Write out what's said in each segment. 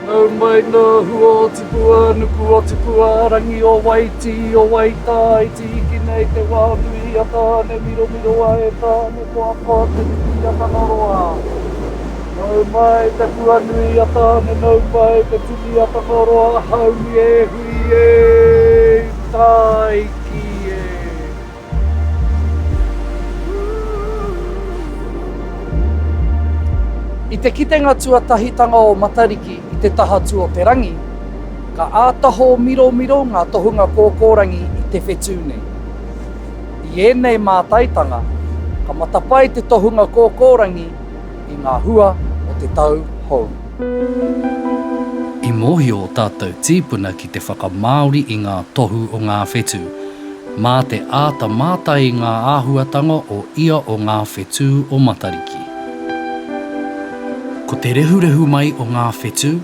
Nau mai nō hua o tipua, nuku o tipua, rangi o waitī, o waitā, i tīhiki nei te wā nui i a Tāne, miromiroa e Tāne, koakoa te whiti i a Tangaroa. Nau mai te puanui a Tāne Nau mai te tini a Tangaroa Haumi e hui e Tāiki e. I te kitenga tuatahitanga o Matariki i te taha tu o te rangi, ka ātaho miromiro ngā tohunga kōkōrangi i te whetū nei. I ēnei mātaitanga, ka matapae te tohunga kōkōrangi i ngā hua o te tau hou. I mōhio ō tātou tīpuna ki te whakamāori i ngā tohu o ngā whetū. Mā te āta mātai i ngā āhuatanga o ia o ngā whetū o Matariki. Ko te rehurehu mai o ngā whetū,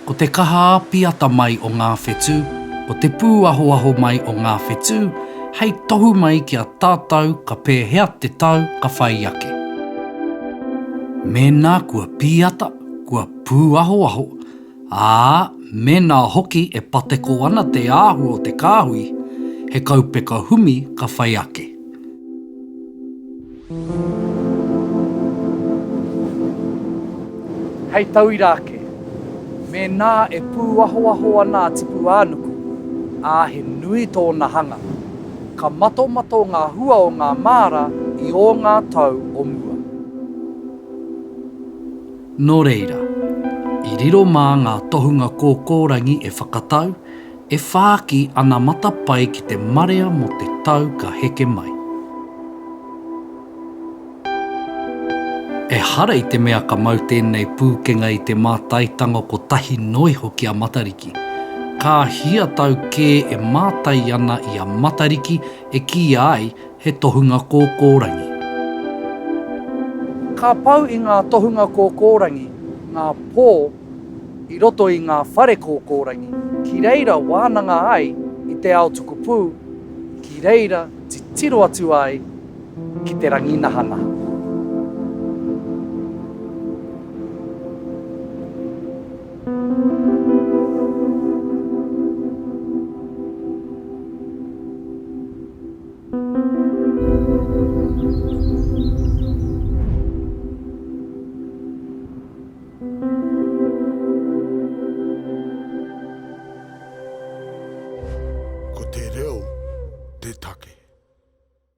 Ko te kaha āpiata mai o ngā whetū, ko te pūahoaho mai o ngā whetū, hei tohu mai ki a tātou ka pēhea te tau ka whai ake. Mēnā kua pīata, kua pūahoaho, ā, mēnā hoki e pateko ana te āhua o te kāhui, he kaupeka humi ka whai ake. Hei tauira ake, mēnā e pūahoaho ana a Tipuānuku, ā, he nui tōna hanga, ka matomato ngā hua o ngā māra i ō ngā tau o mua. Nō reira, i riro mā ngā tohunga kōkōrangi e whakatau, E whāki ana matapae ki te marea mō te tau ka heke mai. Ehara i te mea ka mau tēnei pūkenga i te mātaitanga kotahi noa iho ki a Matariki. Ka hia tau kē e mātai ana i a Matariki e kīia ai he tohunga kōkōrangi. Ka pau i ngā tohunga kōkōrangi ngā pō i roto i ngā whare kōkōrangi, ki reira wānanga ai i te ao tukupū, ki reira titiro atu ai ki te rangi nahanaha. Ko te reo te take.